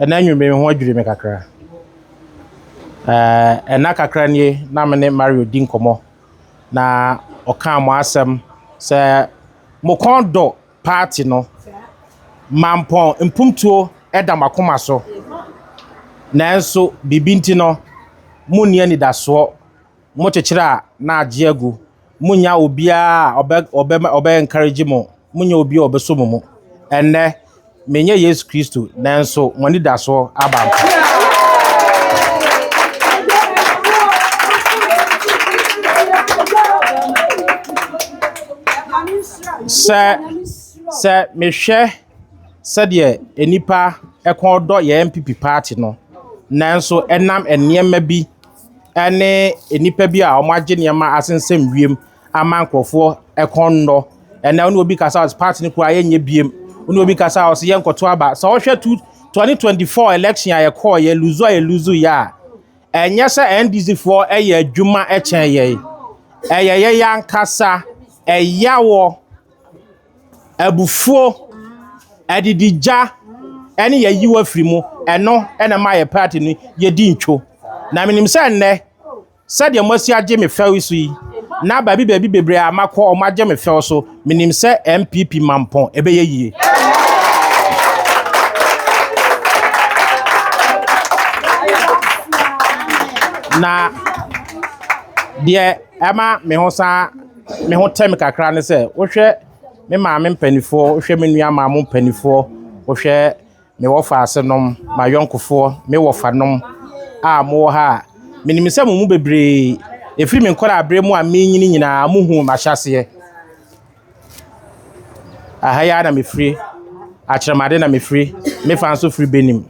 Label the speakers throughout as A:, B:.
A: Ɛnnɛ anwummere yi, me ho adwiri me kakra. Ɛɛ, nna kakra nie na me ne Mario di nkɔmmɔ, na ɔkaa mo asɛm sɛ mo kɔn dɔ paati no. Mampɔn mpuntuo da mo akoma so, nanso biribi nti no, monni anidasoɔ. mokyekyere a, na agye agu. Munnya obiara a ɔbɛ ɔbɛ ɔbɛ encourage mo. Munnya obi a ɔbɛsɔ mo mu. Ɛnnɛ, menyɛ Yesu Kristo, nanso mo anidasoɔ aba ampa. Sɛ sɛ mehwɛ sɛdeɛ nnipa ɛkɔn dɔ yɛn NPP party no, nanso ɛnam nneɛma bi ne nnipa bi a wɔagye nneɛma asensɛm wiem ama nkurɔfoɔ kɔn nnɔ. Ɛnna wo ne obi kasa a ɔse party no koraa yɛnyɛ biem. Wo ne obi kasa a ɔse yɛnkɔto aba. Sɛ wohwɛ two twenty twenty four election a yɛkɔɔ yɛ luzu a yɛluzu yɛ a, ɛnyɛ sɛ NDC foɔ yɛ adwuma kyɛn yɛn. Ɛyɛ yɛn ankasa ɛyawɔ. Abufuo, adididwa ne yɛayi wo afiri mu, ɛno na ɛma yɛn party no yɛdi ntwo. Na menim sɛ nnɛ, sɛdeɛ moasi agye me fɛw so yi, na baabi baabi bebree a makɔ wɔn agye me fɛw so, menim sɛ NPP mampɔn ɛbɛyɛ yie. Na deɛ ɛma me ho saa. me ho tɛ me kakra ne sɛ wohwɛ me maame mpanimfoɔ, wohwɛ me nua maa mo mpanimfoɔ, wohwɛ me wɔfa ase nom, m'ayɔnkofoɔ, me wɔfa nom a mowɔ ha a, menim sɛ mo mu bebree, ɛfiri me nkɔla abere mu a menyini nyinaa, mo hu m'ahyɛseɛ. Aha yi na mefiri, akyerɛmade na mefiri, mefa nso firi Benin.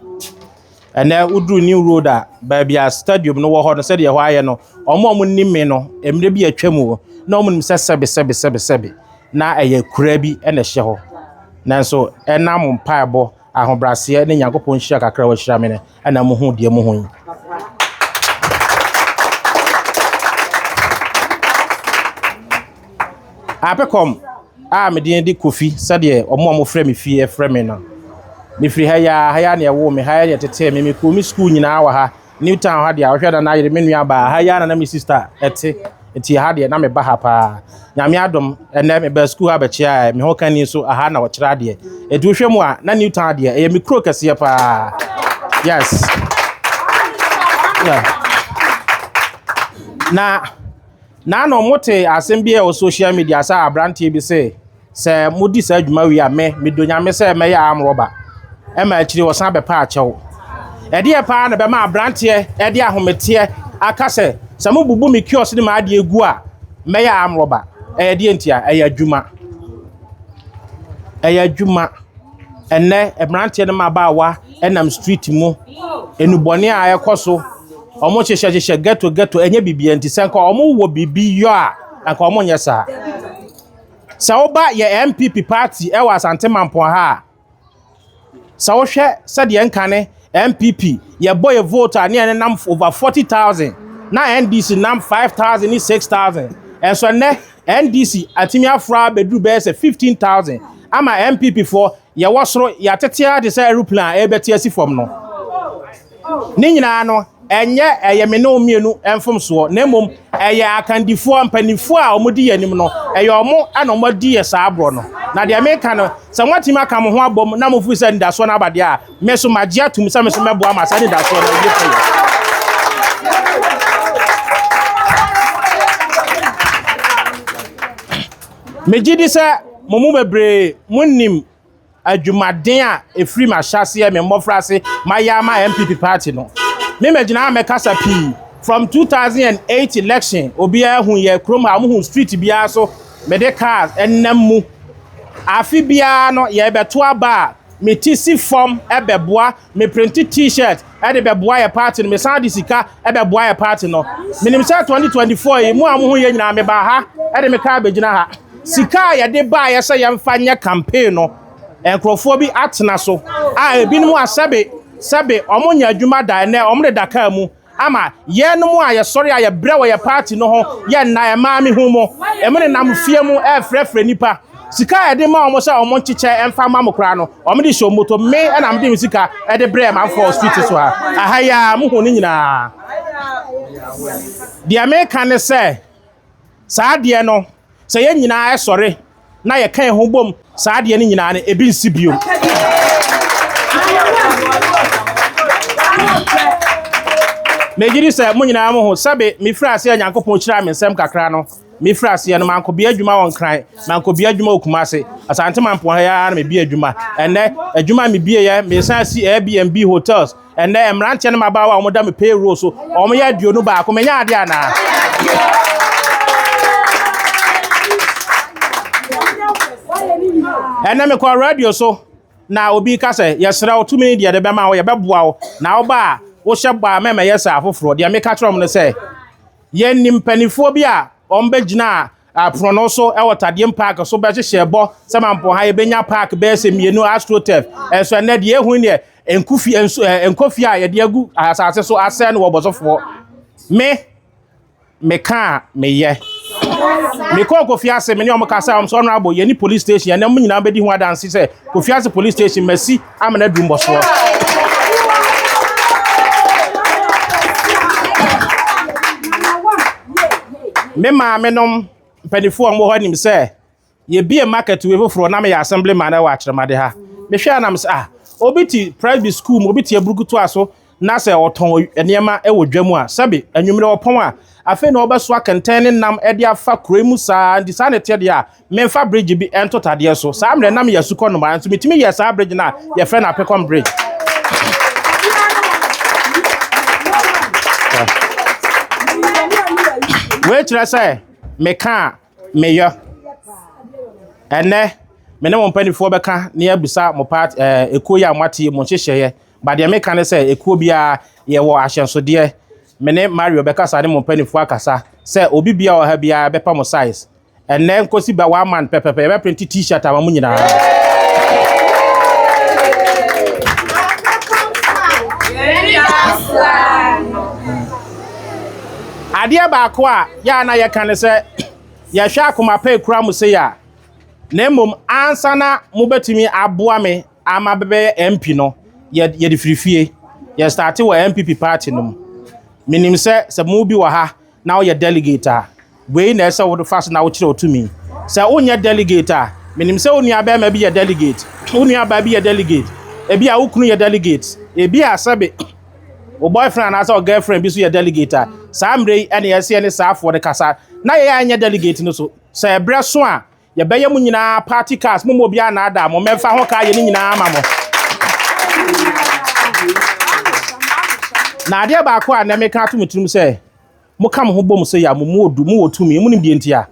A: Ɛnnɛ woduru New Road a, baabi a stadium no wɔ hɔ no, sɛdeɛ ɛhɔ ayɛ no, wɔn a wɔnim me no, mmerɛ bi atwa mu hɔ, na wɔnim sɛ sɛbe sɛbe sɛbe sɛbe na ɛyɛ kura bi na ɛhyɛ hɔ. Nanso ɛnam mpaebɔ, ahobrɛaseɛ ne Nyankopɔn nhyira kakra a wahyira me no, ɛna mohu deɛ mohu yi. Apecom a me din de Kofi sɛdeɛ wɔn a wɔfrɛ me fie frɛ me no. Mefiri ha yi ara, ha yi ara na wɔwoo me, ha yi ara na wɔtetee me. Mekɔɔ me sukuu nyinaa wɔ ha. New Town ha deɛ a, wohwɛ na na yere me nuabaa, ha yi ara na na me sista te. Nti ha deɛ, na meba ha paa. Nyame adom, ɛnnɛ mebaa sukuu ha bɛkyeaeɛ, me ho ka nni so, aha na wɔkyerɛ adeɛ. Nti wohwɛ mu a, na New Town deɛ, ɛyɛ me kuro kɛseɛ paa. Yes. Yeah. Na Na na wɔte asɛm bi a ɛwɔ social media sɛ aberanteɛ bi sɛ sɛ modi saa adwuma wie a me medɔ nyame sɛ mɛyɛ arm rɔba ɛma akyiri ɔsan bɛpɛ akyɛw ɛdeɛ paa na bɛma aberanteɛ ɛde ahometeɛ aka sɛ sɛ mobubu me kios ne m'adeɛ gu a mɛyɛ arm rɔba ɛyɛ deɛ ntia ɛyɛ adwuma ɛyɛ adwuma Ɛnnɛ mmeranteɛ ne mmabaawa nam street mu, nnubɔne a ɛkɔ so, wɔhyehyɛ hyehyɛ ghetto ghetto, ɛnyɛ biribiara nti, sɛ anka wɔwɔ biribi yɔ a, anka wɔnyɛ saa. Sɛ woba yɛ NPP party wɔ Asante Mampong ha a, sɛ wohwɛ sɛdeɛ nkane NPP, yɛbɔ yɛ vote a ne yɛn nenam over forty thousand, na NDC nam five thousand ne six thousand, nanso ɛnnɛ. NDC atumi afra abɛduru bɛyɛ sɛ 15,000 ama NPP foɔ yɛwɔ soro yɛatete ara te sɛ aeroplane a ɛrebɛte asi fam no. Ne nyinaa no, ɛnyɛ ɛyɛ me ne wo mmienu mfomsoɔ na mmom ɛyɛ akandifoɔ mpanimfoɔ a wɔdi yɛn anim no, ɛyɛ wɔn na wɔadi yɛ saa borɔ no. Na deɛ meka no, sɛ moatumi aka mo ho abom na mofiri sɛ anidasoɔ no aba deɛ a, me nso magye atom sɛ me nso mɛboa ma saa anidasoɔ no awie pɛyɛ megye di sɛ mo mu bebree monim adwumaden a ɛfiri m'ahyɛaseɛ me mmɔfra ase mayɛ ama mpp party no me magyina a mɛkasa pii from 2008 election obiara hu yɛ kurom a wɔhu street biara so mede cars ɛnam mu afe biara no yɛbɛto aba a me ti si fam bɛboa, me prente t-shirt de bɛboa yɛ party no, me san de sika bɛboa yɛ party no. Menim sɛ 2024 yi, mo a mo ho yɛ nyinaa me baa ha de me kaa bɛgyina ha. Sika a yɛde baayɛ sɛ yɛmfa nyɛ campaign no, nkurɔfoɔ bi atena so a ebinom asɛbe sɛbe wɔn nyɛ adwuma da ɛnɛ wɔn de da kaa mu. Ama yɛnom a yɛsɔre a yɛbrɛ wɔ yɛn party no ho yɛ nna ɛmaa me hu mo. Emu nenam fie mu ɛɛfrɛfrɛ nipa. Sika a yɛde ma wɔn sɛ wɔn nkyekyɛ ɛmfa mma mo koraa no wɔn de hyɛ wɔn botom. Me na mede me sika ɛde brɛɛ manfoɔ wɔ street so ha. Ɛha yi ara mohuu ne nyinaa. Deɛ meka ne sɛ saa adeɛ no. Sɛ yɛn nyinaa sɔre na yɛka yɛn ho bom saa adeɛ no nyinaa no, ebi nsi bio. Megye di sɛ mo nyinaa mo ho sɛbe mefiri aseɛ Nyankopɔn hyiraa me nsɛm kakra no mefiri aseɛ no manko bia adwuma wɔ Nkran manko bia adwuma wɔ Kumase Asante Mampoa ha yɛ ara na mebie adwuma ɛnɛ adwuma a mebieɛ mesan si Airbnb hotels Ɛnnɛ, mmeranteɛ ne mmabaawa a wɔda me payroll so, wɔyɛ aduonu baako. Menya adeɛ anaa? Ɛnnɛ mekɔ radio so na obi ka sɛ, yɛsrɛ wo tumi deɛ de bɛma wo, yɛbɛboa wo. Na woba a, wohyɛ bɔ a mɛmɛyɛ sɛ afoforɔ. Deɛ meka kyerɛ wɔn no sɛ, yɛnni mpanimfoɔ bi a wɔbɛgyinaa apono so wɔ Tadeɛm Park so bɛhyehyɛ bɔ sɛ Mampɔha yɛbɛnya park bɛyɛ sɛ mmienu, AstroTurf. Ɛnso ɛnnɛ deɛ ɛhu deɛ Nku fie nso ɛ eh, nkɔ fie a yɛde agu asase so asɛe no wɔ bɔsɔfoɔ. Me meka a meyɛ. Mekɔɔ Kofi Ase me ne ɔmo kasa ɔmo sɛ ɔnorabo yɛne police station ɛnɛ mo nyinaa bɛdi ho adanse sɛ Kofi Ase police station masi amena aduru mbɔsoɔ. Me maame nom mpanimfoɔ a wɔwɔ hɔ anim sɛ Yɛbiee market wei foforɔ na meyɛ assemblyman wɔ akyerɛmade ha. Mehwɛ a na mesɛ ah, obi te presby school mu, obi te aburukutoa so na sɛ ɔtɔn nneɛma wɔ dwa mu a, sɛbe anwummerɛ ɔpɔn a, afei na ɔbɛsoa kɛntɛn ne nam de afa kuro mu saa, nti saa na ɛteɛ deɛ a, memfa bridge bi ntoto adeɛ so. Saa mmerɛ na meyɛ asukɔ nnomaa, nso metumi yɛɛ saa bridge no a yɛfrɛ no Apekɔm Bridge. Wei kyerɛ sɛ meka a, meyɔ. Ɛnnɛ, me ne mo mpanimfoɔ bɛka na yɛabisa mo part ɛɛ eh, ekuo yi a moate yi mo nhyehyɛeɛ. Ba deɛ meka ne sɛ ekuo biara yɛwɔ ahyɛnsodeɛ. Me ne Mario bɛkasa ne mo mpanimfoɔ akasa sɛ obi bia wɔ ha biara bɛpa mo size. Ɛnnɛ nkosi ba one month pɛpɛpɛ yɛbɛprinte t-shirt ama mo nyinaa. Adeɛ baako a Yɛ a na yɛka ne sɛ, Yɛhwɛ akoma pa a ekura mo sei a, na mmom ansa na mobɛtumi aboa me ama bɛbɛyɛ MP no, yɛ yɛde firi fie. Yɛ starte wɔ NPP party no mu. Menim sɛ sɛ mo bi wɔ ha na woyɛ delegate a, wei na ɛsɛ wo fa so na wokyerɛ wo tumi. Sɛ wonyɛ delegate a, menim sɛ wo nuabɛrima bi yɛ delegate, wo nuabaa bi yɛ delegate, ebi a wo kunu yɛ delegate, ebi a sɛbe. wo boyfriend anaasɛ wo girlfriend bi so yɛ delegate a saa mmerɛ yi ɛne ɛsɛ ne saa afoɔ no kasa na yɛ a ɛnyɛ delegate no so sɛ ɛberɛ so a yɛbɛyɛ mu nyinaa party cars mo mu obiara na ada mo mɛmfa ho kaa yɛ ne nyinaa ama mo na adeɛ baako a na meka ato mo tirim sɛ Moka mo ho bom sɛ yɛ a, mo mu odu, mowɔ tumi. Monim deɛ nti a?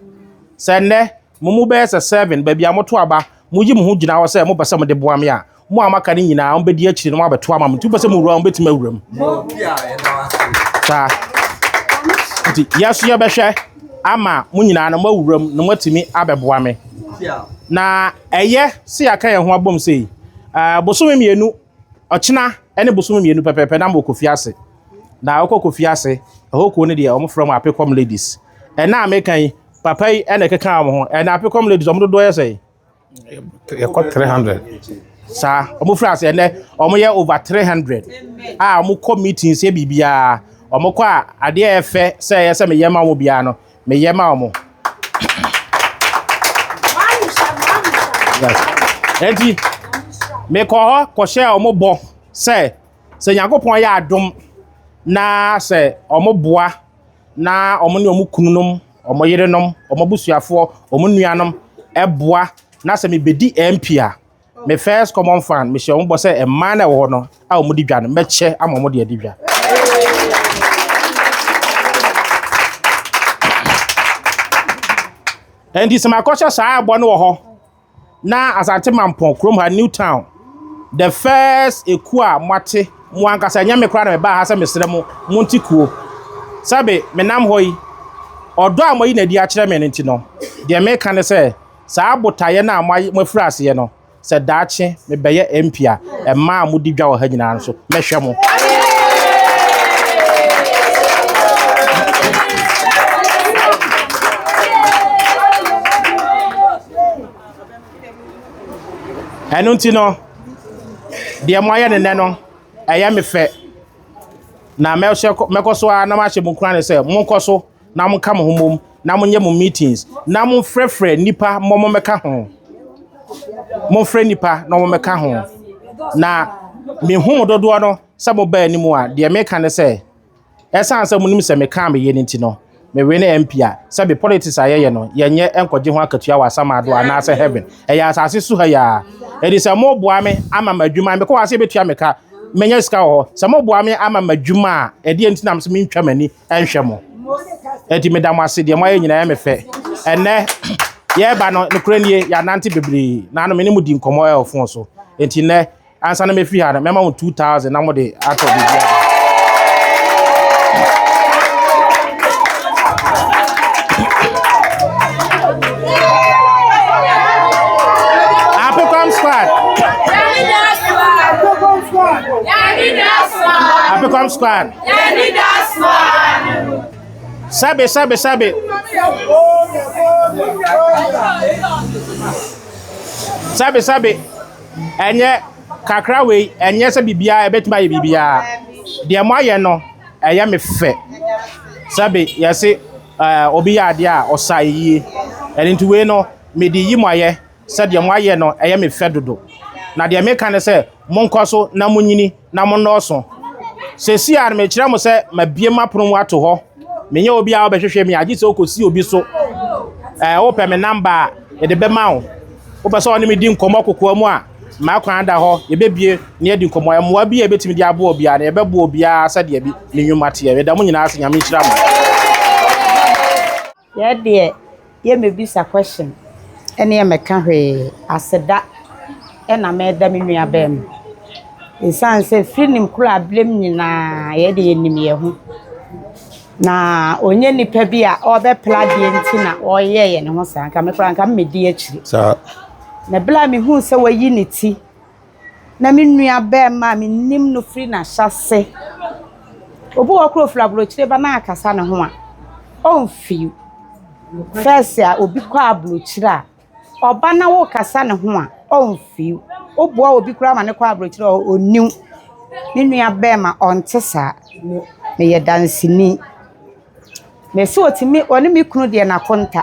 A: Sɛ nnɛ, mo mu bɛyɛ sɛ seven, baabi a moto aba, moyi mo ho gyina hɔ sɛ mopɛ sɛ mode boa me a, mo a moaka no nyinaa, wɔbɛdi akyire na wɔabɛto ama mo. Nti mopɛ sɛ mowura mu a, mobɛtumi awura mu. Saa. Nti yɛn nso yɛbɛhwɛ ama mo nyinaa na moawura mu na moatumi abɛboa me. Na ɛyɛ sɛ yɛaka yɛn ho abom sei, eh, bosome mmienu Ɔkyena ne bosome mmienu pɛpɛɛpɛ na mokɔ fie ase. Na wokɔ kɔ fie ase, ɛhɔ kuo no deɛ wɔfrɛ wɔn Apekɔm ladies. Ɛna a meka yi, papa yi na ɛkeka wɔn ho. Ɛna Apekɔm ladies wɔn dodoɔ yɛ sɛn? Yɛkɔ
B: 300. Saa,
A: wɔn firi ase ɛnɛ, wɔn yɛ over 300 a wɔn kɔ meetings yɛ biribiara. Wɔn kɔ a adeɛ a ɛfɛ sɛ ɛyɛ sɛ meyɛ ma wɔn biara no. meyɛ ma wɔn. Eti mekɔ hɔ kɔhyɛɛ wɔn bɔ sɛ sɛ Nyankopɔn yɛ adom na sɛ wɔn boa na wɔn ne wɔn kununom, wɔn yerenom, wɔn abusuafoɔ, wɔn nuanom ɛboa na sɛ mebɛdi MP a. Me first common fan, me hyɛ wɔn bɔ sɛ mmaa na ɛwɔ hɔ no a wɔn di dwa no, mɛkyɛ ama wɔn de adi dwa. Ɛnti sɛ makɔhyɛ saa ɛbɔ no wɔ hɔ na Asante Mampɔn kurom ha New Town the first ekuo a moate mo ankasa ɛnyɛ me koraa na mebaa ha sɛ mesrɛ mo mo nti kuo sɛbe menam hɔ yi ɔdɔ a moayi na adi akyerɛ me no nti no deɛ meka ne sɛ Saa botaeɛ no a moafiri aseɛ no, sɛ daakye mebɛyɛ MP a, mmaa a modi dwa wɔ ha nyinaa nso, mɛhwɛ mo. Ɛno nti no, deɛ moayɛ ne nɛ no, ɛyɛ me fɛ. Na mɛkɔ so ara na mahyɛ mo nkuran sɛ monkɔ so na monka mo ho mmom na monyɛ mo meetings na momfrɛfrɛ nnipa mmɔ mommɛka ho momfrɛ nnipa na wɔmmɛka ho na mehu mo dodoɔ no sɛ mobaa anim a deɛ meka ne sɛ ɛsiane sɛ monim sɛ mekaa meyɛ no nti no mewe ne MP a sɛ be politics a yɛyɛ no yɛnyɛ nkɔgye ho akatua wɔ asamaado anaasɛ heaven ɛyɛ asase so ha yɛa ɛdi sɛ moboa me ama m'adwuma mekɔ wɔ ase bɛtua meka menya sika wɔ hɔ sɛ moboa me ama m'adwuma a ɛdeɛ nti nam sɛ mentwa m'ani nhwɛ mo. Enti meda mo ase, deɛ moayɛ nyinaa yɛ me fɛ. Ɛnnɛ, yɛreba no, nokorɛ nie, yɛanante bebree, na ano me ne mo di nkɔmmɔ ɛwɔ fon so. Enti nnɛ, ansa na mɛfiri ha no, mɛma mo 2000 na mode atɔ biribiara. Apecom squad. Apecom squad. Yɛanidaso ara ne no. Sabe, sabe, sabe. Sabe, sabe. Ɛnyɛ kakra wei, ɛnyɛ sɛ biribiara ɛbɛtumi ayɛ biribiara. Deɛ mo ayɛ no, ɛyɛ me fɛ. Sabe, yɛse ɛɛ obi yɛ adeɛ a ɔsa yie. Ɛno nti wei no, mede yi mo ayɛ. sɛ deɛ moayɛ no yɛ me fɛ dodo. Na deɛ meka ne sɛ, monkɔ so na monyini na monnɔɔso. Seesei ara no, mekyerɛ mo sɛ mabue m'apono mu ato hɔ. Menyɛ obi a wobɛhwehwɛ me a, gye sɛ wokɔsi obi so. Ɛɛ, wopɛ me namba a, mede bɛma wo. Wopɛ sɛ ɔne me di nkɔmmɔ kokoa mu a, m'akwan da hɔ, yɛbɛbue na yɛadi nkɔmmɔ. Mmoa bi a yɛbɛtumi de aboa obiara no, yɛbɛboa obiara sɛdeɛ ne nnwuma teɛ. Meda mo nyinaa ase. Nyame nhyira mo.
C: Yɛ deɛ yɛ mɛ bisa question ɛne yɛ mɛ ka hwee aseda ɛna mɛ da me nua bɛɛma ɛsiane sɛ firi nim koro ablem nyinaa yɛ deɛ yɛ nim yɛ ho na ɔnyɛ nipa bi a ɔbɛ pla deɛ nti na ɔyɛ yɛ ne ho saa nka me kora nka mɛ di akyiri. Saa.
B: Na bla me
C: hu sɛ wayi ne ti na me nuabarima a menim no firi n'ahyɛase. Obi wɔ hɔ koraa a ɔfiri aburokyire ba na akasa ne ho a, ɔmfew. First a obi kɔ aburokyire a, ɔba na wokasa ne ho a, ɔmfew. Woboa obi koraa ma no kɔ aburokyire a, ɔnnew. Me nuabarima, ɔnte saa. Meyɛ danseni. Mese ɔtumi ɔne me kunu deɛ n'akonta.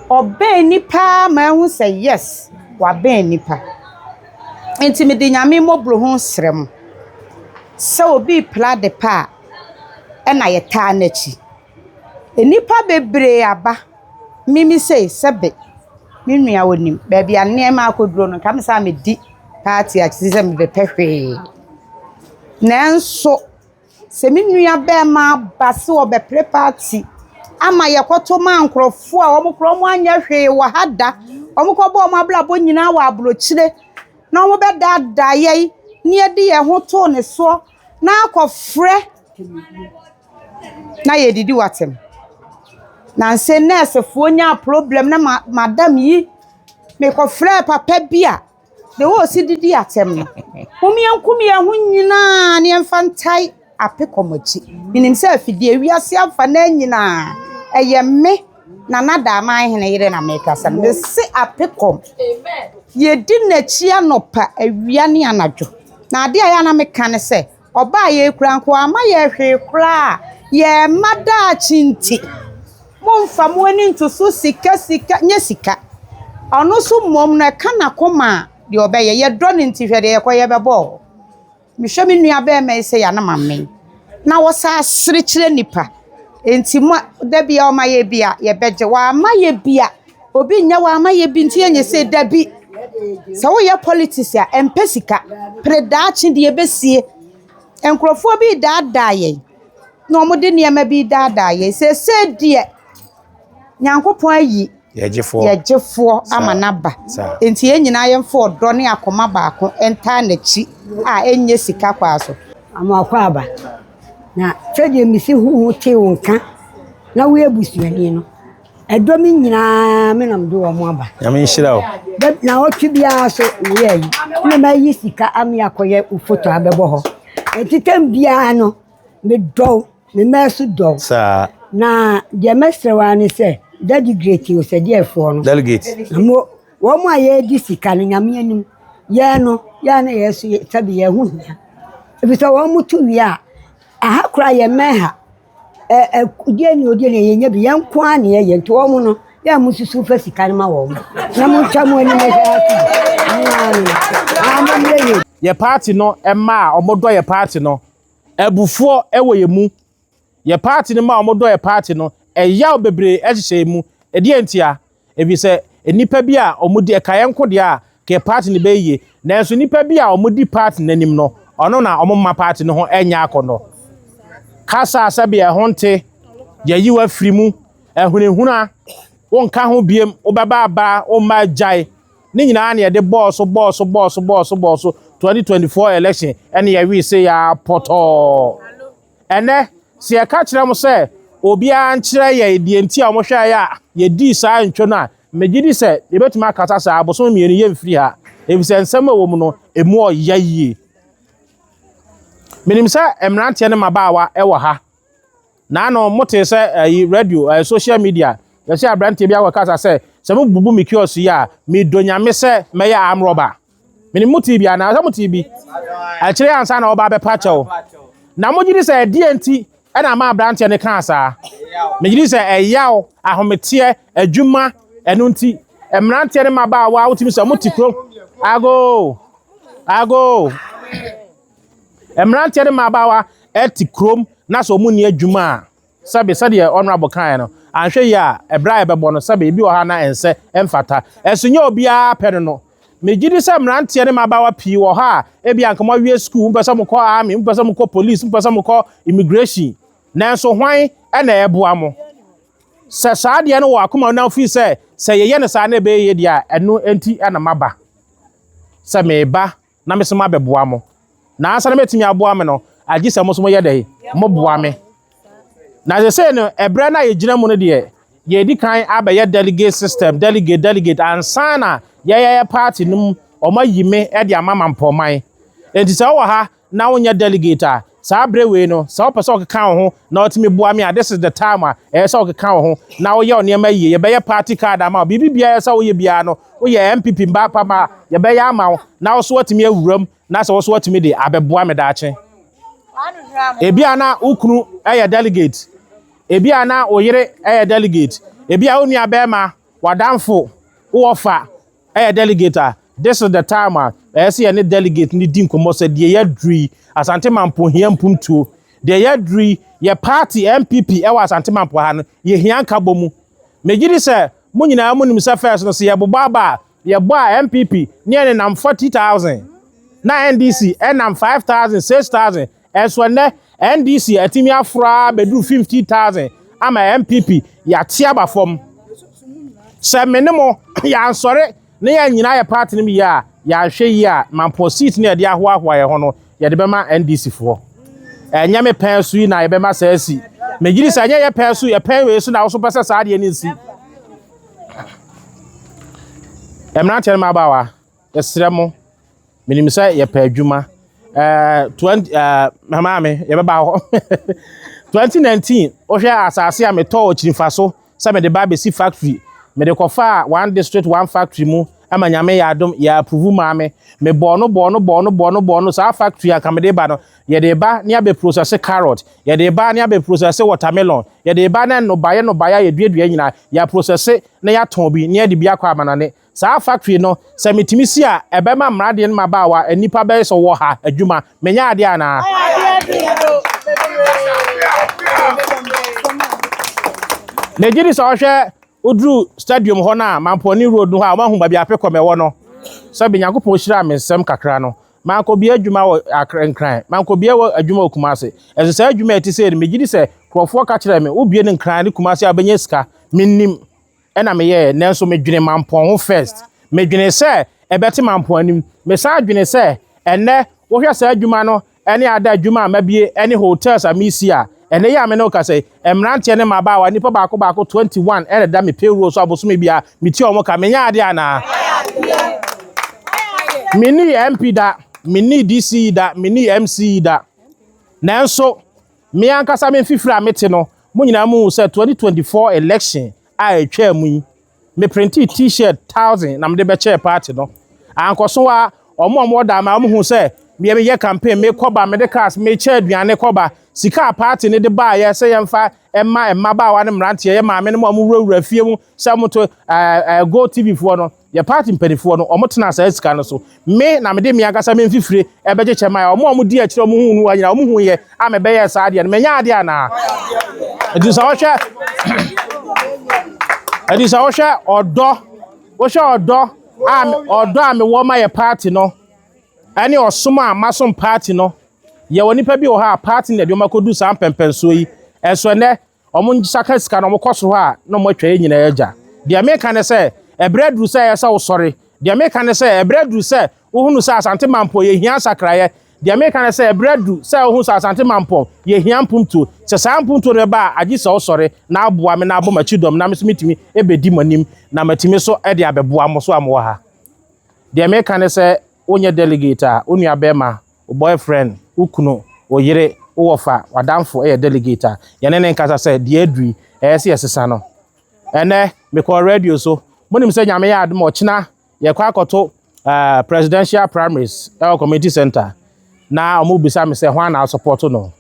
C: Ɔbɛn ni paa ma ehu sɛ yes wabɛn nipa. Nti mede Nyame mmɔborɔ hu srɛ mo sɛ obi repra ade pa a ɛna yɛtaa n'akyi. Nnipa bebree aba me me sei sɛbe me nua ɔnim baabi a nneɛma akɔduro no nka me saa medi party a te sɛ mebɛpɛ hwee. Nanso. Sɛ me nua bɛɛma ba se ɔbɛpere party ama yɛkɔto ma nkorɔfo a wɔn koraa wɔn anyɛ hwee wɔ ha da, wɔn kɔbɔ wɔn abrabɔ nyinaa wɔ aburokyire na wɔn bɛdaadaa yɛn na yɛde yɛn ho too ne soɔ na akɔfrɛ na yɛdidi wɔ atɛm. Nansa yi nɛɛsefoɔ nyaa problem ne ma madam yi, mekɔfrɛɛ papa bi a. Deɛ ɔwɔ ɔse didi atɛm no. Mom yɛnkum yɛn ho nyinaa na yɛmfa ntae ape kɔm akyi. Menim sɛ afidie wiase afa na nyinaa ɛyɛ me na nada aman hene yere na mekasa no. Mese ape kɔm. Yɛdi n'akyi anɔpa awia ne anadwo. Na adeɛ a yɛ na meka ne sɛ Ɔbaa yei koraa nka wamma yɛn hwee koraa a, yɛn mma daakye nti, mommfa mo ani nto so sika, sika, nyɛ sika. Ɔno nso mmom no, ɛka n'akoma a, deɛ ɔbɛyɛ. Yɛdɔ no nti, hwɛ deɛ yɛkɔ yɛ bɛbɔ o. Mehwɛ me nua bɛɛma yi sɛ ya no mame. Na wɔ saa sere kyerɛ nipa. Nti mo a, da bi a ɔma yɛ bi a, yɛbɛgye. Wamma yɛ bi a, Obi nyɛ wo ama yɛ bi nti yɛ nyɛ sei dabi sɛ wo yɛ politics a ɛmpɛ sika pere daakye deɛ ɛbɛsie nkurɔfoɔ bi daadaa yɛn na wɔn de nneɛma bi daadaa yɛn sɛsɛ deɛ nyankopɔn ayi yɛgyefoɔ ama n'aba nti yɛn nyinaa yɛmfa ɔdɔ ne akoma baako ntaa n'akyi a ɛnyɛ sika kwaa so ama akɔ aba
D: na sɛdeɛ mesi ho ho tee wo nka na woyɛ busuani no Ɛdɔm yi nyinaa me na mede wɔn aba. Nyame nhyira wo.
B: Dɛ na ɔtwe biara
D: so wura yi na mayi sika ame akɔyɛ wo foto abɛbɔ hɔ. Enti tam biara no medɔw me mmaa so dɔw. Saa. Na
B: deɛ
D: mɛsrɛ wo ara ne sɛ dadigrate o sɛ deɛfoɔ no. Delegate. Na mo
B: wɔn
D: a yɛredi sika no nyame anim yɛn no yɛn na yɛn so sɛbi yɛn ho hia. Efisɛ wɔn to wie a aha koraa yɛn mmɛn ha. Yɛ paati no mma
A: a wɔdɔ yɛ paati no. Abufuo wɔ yɛn mu. Yɛ paati no mma a wɔdɔ yɛ paati no. Ɛyaw bebree hyehyɛ yɛn mu. Ɛdeɛn ntia? Efisɛ nnipa bi a wɔdi ɛka yɛn nko deɛ a, ka yɛ party no bɛyɛ yie. Nanso nnipa bi a wɔdi party no anim no, ɔno na wɔmma party no ho nyɛ akɔnnɔ. Kasa a sɛbea ɛho nte, yɛayi wo afiri mu, ahunahuna, wonka ho biem, wobɛba aba, womma agyae, ne nyinaa na yɛde bɔɔ so bɔɔ so bɔɔ so bɔɔ so bɔɔ so 2024 election ɛne yɛwee sei ara pɔtɔɔ. Ɛnnɛ, sɛ yɛka kyerɛ mo sɛ obiara nkyerɛ yɛn deɛ nti a wɔhwɛɛ yɛn a yɛdii saa ntwo no a, megye di sɛ yɛbɛtumi akasa sɛ, Abosome mmienu yɛmfiri ha, efisɛ nsɛm a ɛwɔ mu no, emu ɔya yie. Menim sɛ mmeranteɛ ne mmabaawa wɔ ha. Naano motee sɛ ayi radio, ayi social media, yɛsɛ aberanteɛ bi akɔkasa sɛ, sɛ mobubu me kiosk yi a, medɔ nyame sɛ mɛyɛ arm robber. Menim motee bi anaa? Sɛ motee bi, ɛkyerɛ ansa na wɔba abɛpa kyɛw. Na mogye di sɛ ɛdeɛ nti na ama aberanteɛ no kaa saa? Megye di sɛ ɛyaw, ahometeɛ, adwuma, ɛno nti. Mmeranteɛ ne mmabaawa a wotumi sɛ mote kurom. Ago! Ago! Mmeranteɛ ne mmabaawa te kurom na sɛ wɔn nni adwuma a, Sɛbe, sɛdeɛ Honourable kaeɛ no, anhwɛ yie a, berɛ a yɛbɛbɔ no, sɛbe ebi wɔ hɔ a na ɛnsɛ, ɛmfata. Ɛnso nyɛ obiara pɛ no no. Megye di sɛ mmeranteɛ ne mmabaawa pii wɔ hɔ a ebia anka moawie sukuu, mopɛ sɛ mokɔ Army, mopɛ sɛ mokɔ Police, mopɛ sɛ mokɔ Immigration, nanso hwan na ɛreboa mo? Sɛ saa adeɛ no wɔ w'akoma mu na wofii sɛ, sɛ yɛyɛ no saa na ɛbɛyɛ yie deɛ a, ɛno nti na maba sɛ mereba. na me so mabɛboa mo. Nansa na mɛtumi aboa me no, agye sɛ mo so moyɛ dɛn? Moboa me. Na sɛsei no, ɛberɛ no a yɛgyina mu no deɛ, yɛdi kan abɛyɛ delegate system, delegate, delegate, ansa na yɛyɛyɛ party no mu, wɔayi me de ama mampɔman. Enti sɛ wowɔ ha na wonyɛ delegate a, Saa bere wei no, sɛ wopɛ sɛ ɔkeka wo ho na otumi boa me a, this is the time a ɛyɛ sɛ ɔkeka wo ho na woyɛ wo nneɛma yie. Yɛbɛyɛ party card ama wo. Biribi biara a ɛyɛ sɛ woyɛ biara no, woyɛ NPP mma apam a, yɛbɛyɛ ama wo na wo nso woatumi awura mu na sɛ wo nso woatumi de abɛboa me daakye. Ebia na wo kunu yɛ delegate, ebia na wo yere yɛ delegate, ebia wo nuabarima, w'adamfo, wo wɔfa, Ɛyɛ delegate a this is the time a ɛyɛ sɛ yɛne delegate no di nkɔmmɔ sɛ deɛ yɛaduru yi, Asante Mampo hia mpuntuo. Deɛ yɛaduru yi, yɛ party NPP wɔ Asante Mampo ha no, yɛhia nkabɔmu. Megye di sɛ mo nyinaa monim sɛ first no, sɛ yɛbobɔ aba a, yɛbɔ a NPP ne yɛn nenam 40,000, na NDC nam 5,000, 6,000. Ɛnso ɛnnɛ NDC atumi aforo ara abɛduru 50,000 ama NPP yɛate aba fam. Sɛ me ne mo yɛansɔre na yɛannyina ayɛ party no mu yie a, yɛanhwɛ yie a, Mampɔn seat no a yɛde ahoahoa yɛn ho no, yɛde bɛma NDC foɔ. Ɛnyɛ me pɛn so yi na yɛbɛma saa asi. Megye di sɛ ɛnyɛ yɛ pɛn so, yɛ pɛn wei so na wo nso pɛ sɛ saa adeɛ no nsi. Mmeranteɛ ne mmabaawa, Yɛsrɛ mo, menim sɛ yɛpɛ adwuma. Eh, 20, eh, mama me, yɛbɛba hɔ. 2019, wohwɛ asase a metɔɔ kyirifa so sɛ mede ba bɛsi factory. Mede kɔfaa one district one factory mu ma nyame yɛ adom yɛ approve maa me. Mebɔɔ no bɔɔ no bɔɔ no bɔɔ no bɔɔ no saa factory anka mede ba no. Yɛde ba ne abɛ process carrot. Yɛde ba ne abɛ process watermelon. Yɛde ba ne nnobaeɛ nnobaeɛ a yɛduadua nyinaa. Yɛ process na yɛatɔn bi na yɛde bi akɔ amanane. Saa factory no, sɛ metumi si a, ɛbɛma mmradeɛ ne mmabaawa, nnipa bɛyɛ sɛ wɔwɔ ha, adwuma. Menyɛ adeɛ anaa? Megye di sɛ ɔhwɛ woduru stadium hɔ no a, Mampɔne Road no hɔ a, wɔahu baabi a Apecom ɛwɔ no. Sɛbe Nyankopɔn hyiraa me nsɛm kakra no, mankɔbie adwuma wɔ Accra, Nkran. Mankɔbie wɔ adwuma wɔ Kumasi. Nso saa adwuma a ɛte sei no, megye di sɛ nkurɔfoɔ ka kyerɛɛ me, wobie no Nkran ne Kumasi a, wobɛnya sika. Mennim. na meyɛɛ nanso medwene mampɔn ho first medwene sɛ ɛbɛte mampɔn anim mesan dwene sɛ ɛnɛ wohwɛ saa adwuma no ɛne ada adwuma a mabie ɛne hotels a mesi a ɛnɛ yi a me ne wokasa yi mmeranteɛ ne mmabaawa nipa baako baako 21 ɛna da me payroll so abosome bia metua wɔn ka menyɛ adeɛ anaa menni MP da menni DC da menni MC da nanso Me ankasa me mfifiri a mete no, mo nyinaa muhu sɛ 2024 election a ɛtwaa mu yi, me printee T-shirt thousand na mede bɛkyɛɛ party no. Ankɔso ara, wɔn a wɔwɔ Daama no hu sɛ meɛ meyɛ campaign, mekɔ ba, mede cars, mekyɛ aduane kɔ ba. Sika a party no de baeɛ sɛ yɛmfa mma mmabaawa ne mmeranteɛ, yɛ maamenom a wɔwurawura fie mu sɛ wɔto, ɛɛ ɛɛ GoTv foɔ no, Yɛ party mpaninfoɔ no ɔmo tenaa saa sika no so me na mede me ankasa me mfifire ɛbɛgye kyɛ mae ɔmo a ɔmo di akyire ɔmo huu no wa nyinaa ɔmo hu yɛ a me bɛyɛɛ saa adeɛ no me nyɛ adeɛ anaa ɛti sɛ ɔhwɛ ɛti sɛ ɔhwɛ ɔdɔ ɔhwɛ ɔdɔ a ɔdɔ a me wɔ ma yɛ party no ɛne ɔsom a masom party no yɛ wɔ nipa bi wɔ hɔ a party na ɛde ɔmo akɔdu saa mpɛmpɛnsoɔ yi ɛso ɛnɛ. wɔsakra sika na wɔkɔ so hɔ a, na wɔatwa yɛn nyinaa agya. Deɛ meka ne sɛ, ɛberɛ aduru sɛ ɛyɛ sɛ wosɔre. Deɛ meka ne sɛ, ɛberɛ aduru sɛ wohunu sɛ Asante Mampɔn yɛhia nsakraeɛ. Deɛ meka ne sɛ, ɛberɛ aduru sɛ wohunu sɛ Asante Mampɔn yɛhia mpuntuo. Sɛ saa mpuntuo no bɛba a, agye sɛ wosɔre na aboa me na abɔ m'akyi dɔm na me nso mɛtumi ɛbɛdi mo anim na matumi so de abɛboa mo so a mowɔ ha. Deɛ meka ne sɛ, wonyɛ delegate a, wo nuabɛrima Wo boyfriend, wo kunu, wo yere, wo wɔfa, w'adamfo yɛ delegate a, yɛne no nkasa sɛ, Deɛ aduru yi, ɛyɛ sɛ yɛsesa no. Ɛnnɛ, mekɔɔ radio so. Monim sɛ Nyame yɛ adom a, ɔkyena yɛkɔ akɔto eh, presidential primaries wɔ community center. Na wɔbisa me sɛ, hwan na asɔpɔto no?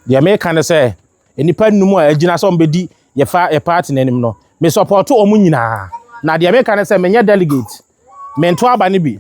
A: Deɛ meka ne sɛ, nnipa nnum a agyina sɛ wɔbɛdi yɛfa yɛ party no anim no, mesɔpɔto wɔn nyinaa. Na deɛ meka ne sɛ, menyɛ delegate, mento aba no bi.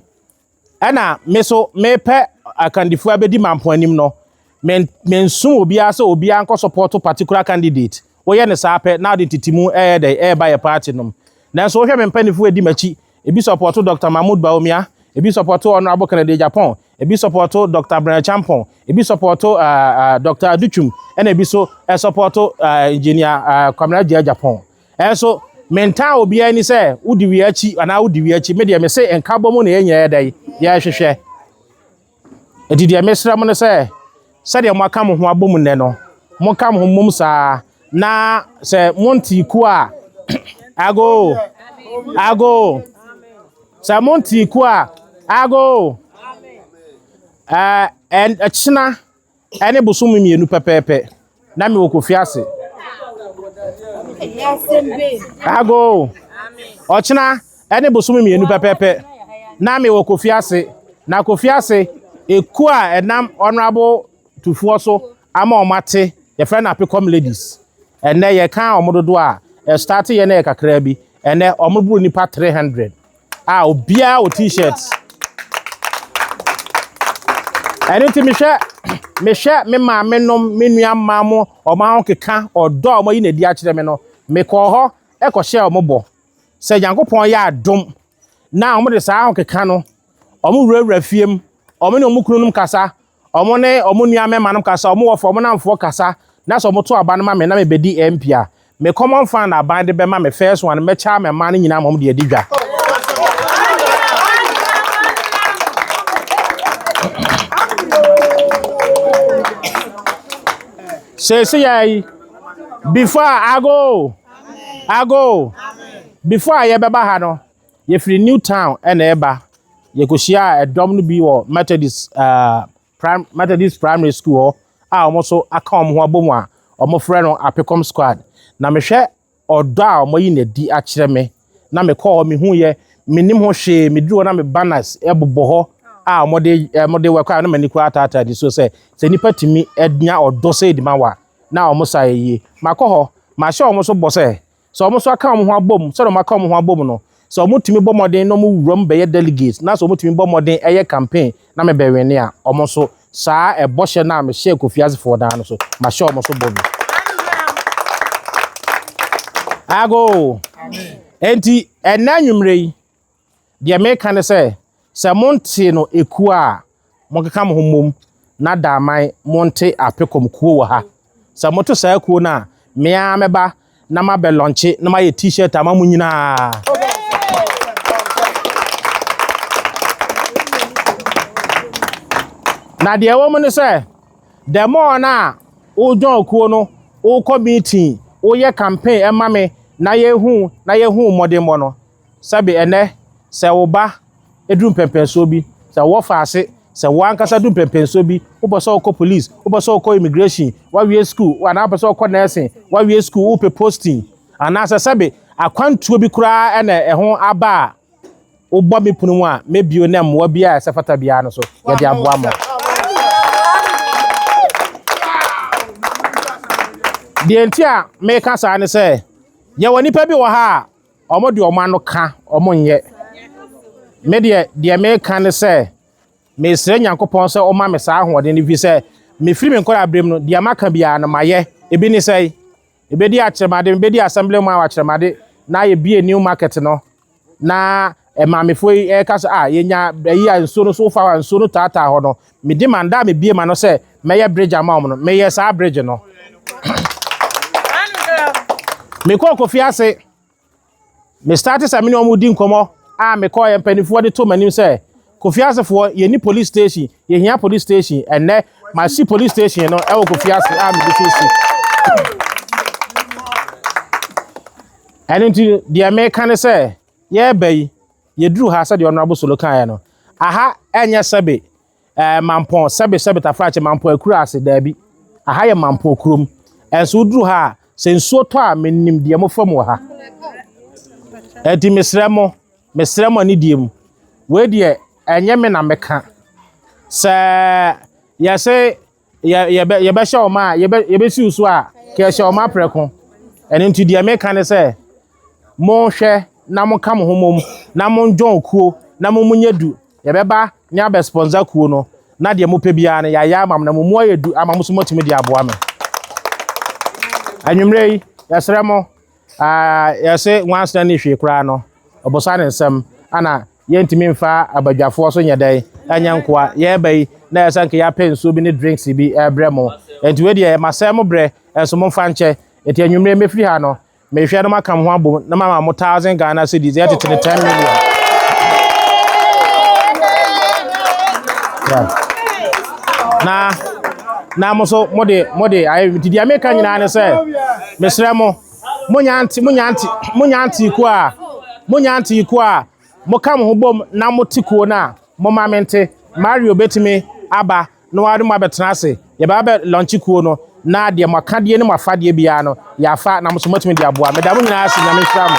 A: Ɛna me so mepɛ akandifo abɛdi mampɔn anim no, men mensom obiara sɛ obiara nkɔ support particular candidate. Woyɛ ne saa pɛ, na ɔde ntitimu ɛyɛ dɛ, ɛreba yɛ party nom. Nanso wohwɛ me mpanyinfo edi m'akyi, ebi support Doctor Mahmoud Bawumia, ebi support Honourable Kennedy Agyapong, ebi support Doctor Bryan Acheampong, ebi support uh, uh, Doctor Adutwum, ɛna ebi so uh, support uh, Engineer uh, Kwamina Gyei Agyapong. Nanso mentaa obiara ani sɛ wodi wei akyi anaa wodi wei akyi. Me deɛ mese nkabɔ mu na yɛn nyinaa yɛ dɛn yɛrehwehwɛ. Enti deɛ mesrɛ mo no sɛ sɛdeɛ moaka mo ho abɔ mu nnɛ no, monka mo ho mmom saa na sɛ monte ku a ago ago sɛ monte ku a ago ɛɛ ɛkyena Ɛne bosome mmienu pɛpɛɛpɛ na mewɔ Kofi ase. Ago, ɔkyena ɛne bosome mmienu pɛpɛɛpɛ na mewɔ Kofi ase. Na Kofi ase ekuo a ɛnam Honourable Tufoɔ so ama wɔn ate yɛfrɛ no Apekɔm Ladies. Ɛnɛ yɛka wɔn dodoɔ a ɛstarte yɛ na yɛ kakraa bi. Ɛnɛ wɔboro nnipa 300. a obiara wɔ t-shirt. Ɛno nti mehwɛ mehwɛ me maame nom me nua mmaa mo wɔn ahokeka ɔdɔ a wɔyi na adi akyerɛ me no mekɔɔ hɔ ɛkɔhyɛ wɔn bɔ sɛ nyankopɔn yɛ adom na wɔn de saa ahokeka no wɔn wurawura fie mu wɔn ne wɔn kununom kasa Wɔn ne wɔn nua mmarimanom kasa, wɔn wɔfa wɔn nnamfoɔ kasa, na sɛ wɔto aba no ma me na mebɛdi ɛɛ mpia. Me common fan na aban de bɛma me first one, mɛkyɛ ama mmaa no nyinaa ma wɔde adi dwa. Seesei yi, before ago, ago, before a yɛbɛba ha no, Yɛfiri Newtown na ɛreba. Yɛkɔhyiaa ɛdɔm no bi wɔ Methodist uh, prim, Methodist Primary School hɔ a wɔn nso aka wɔn ho abom a wɔfrɛ no Apecom Squad. Na mehwɛ ɔdɔ a wɔayi no adi akyerɛ me na mekɔɔ hɔ mehuiɛ menim ho hwee meduru hɔ na me banners bobɔ hɔ a wɔde wɔde wɔ kora na m'ani kora ataataa nisuo sɛ sɛ nipa tumi nya ɔdɔ sɛ edima wa na wɔn sa yɛ yie makɔ hɔ mahyɛ wɔn so bɔ sɛ Sɛ wɔn nso aka wɔn ho abom, sɛdeɛ wɔaka wɔn ho abom no, sɛ wɔtumi bɔ mmɔden na wɔwura mu bɛyɛ delegate na sɛ wɔtumi bɔ mmɔden yɛ campaign na mebɛwene a, wɔn nso saa ɛbɔhyɛ no a mehyɛɛ Kofi Asefoɔ daa no so, mahyɛ wɔn nso bɔ bi. Ago! Enti, ɛnna anwummerɛ yi, Deɛ mereka ne sɛ, sɛ montee no ekuo a, monkeka mo ho mmom na Daman monte Apecom kuo wɔ ha. Sɛ moto saa kuo no a, me ara mɛba na mabɛ lɔnkye na mayɛ T-shirt ama mo nyinaa. Na deɛ ɛwɔ mu ne sɛ, the more no a wodwɔn kuo no, wokɔ meeting, woyɛ campaign ɛma me na yɛhu na yɛhu mmɔdenbɔ no, Sɛbe ɛnnɛ, sɛ wo ba duru mpɛnpɛnsoɔ bi, sɛ wo fa ase, sɛ wo ankasa duru mpɛnpɛnsoɔ bi, wopɛ sɛ wokɔ police, wopɛ sɛ wokɔ immigration, woawie sukuu, anaa wopɛ sɛ wokɔ nursing, woawie sukuu, wopɛ posting, anaasɛ sɛbe akwantuo bi koraa na ɛho aba a, wobɔ me pono mu a, mɛbio na mmoa biara a ɛsɛ fata biara no so, yɛde aboa mo. Deɛ nti a meka saa ne sɛ, yɛwɔ nnipa bi wɔ ha a, Wɔn deɛ wɔn ano ka, wɔn nyɛ. Me deɛ, deɛ meka ne sɛ, mesrɛ Nyankopɔn sɛ ɔma me saa ahoɔden no, ɛfiri sɛ mefiri me nkɔla berɛ mu no, deɛ maka biara no mayɛ. Ebi ne sɛ, mebɛdi akyerɛmade, mebɛdi assembly mu akyerɛmade na yɛbie new market no, na Maamefoɔ yi reka sɛ, Ah, yɛnya ayi a nsuo no so wofa hɔ a nsuo no taataa hɔ no, medi ma da a mebie ma no sɛ mɛyɛ bridge ama wɔn no, meyɛ saa bridge no. Mekɔɔ Kofi ase, me starte sɛ me ne wɔn di nkɔmmɔ a mekɔɔ yɛ mpanimfoɔ de to m'anim sɛ, Kofi asefoɔ, yɛni police station, yɛhia police station, ɛnnɛ masi police station no ɛwɔ Kofi ase a megu so si. Ɛno nti deɛ meka ne sɛ, yɛreba yi, yɛduru ha sɛdeɛ Honourable Solo kaeɛ no, aha ɛnyɛ sɛbe ɛɛ eh, Mampɔn, sɛbe sɛbe Tafrakye, Mampɔn Akuraase, daabi. Aha yɛ Mampɔn kurom. Ɛnso woduru ha a, sɛ nsuo tɔ a, menim deɛ mofa mu wɔ ha. Ɛti mesrɛ mo, mesrɛ mo ani deɛ mu. Wei deɛ, ɛnyɛ me na meka. Sɛ yɛse yɛ yɛbɛ yɛbɛhyɛ wɔn a yɛbɛ yɛbɛsiw so a kɛhyɛ wɔn aprɛko ɛno nti deɛ meka ne sɛ monhwɛ na monka mo ho mom na mondwɔn kuo na mo mu nyɛ du yɛbɛba ne abɛspɔnsa kuo no na deɛ mopɛ biara no yɛayɛ ama mo na mo mu ayɛ du ama mo so moatumi de aboa me anwummerɛ yi yɛsrɛ mo Aa yɛse nwansena nni hwee koraa no ɔbosa ne nsɛm ana yɛntumi mfa abadwafoɔ so nyɛdɛn ɛnyɛ nkoa yɛɛba yi na ɛsɛ nka yɛapɛ nsuo bi ne drinks bi ɛɛbrɛ mo ɛnti wei deɛ masɛɛ mo brɛ ɛnso momfa nkyɛ ɛnti anwumerɛ mɛfiri ha no mehwɛ no maka mo ho abom na mama mo thousand Ghana cedis ɛtete ne ten million yeah. na na mo so mode mode ayɛ nti deɛ meka nyinaa ne sɛ Mesrɛ mo, monyɛ ante, monyɛ ante, monyɛ ante kuo a, monyɛ ante kuo a, moka mo ho bom na mote kuo no a, momma mente. Mario bɛtumi aba na ɔne mo abɛtena ase. Yɛbɛba bɛ launche kuo no, na deɛ mo akadeɛ ne mo afadeɛ biara no, yɛafa na mo nso moatumi de aboa. Meda mo nyinaa ase, Nyame nhyira mo.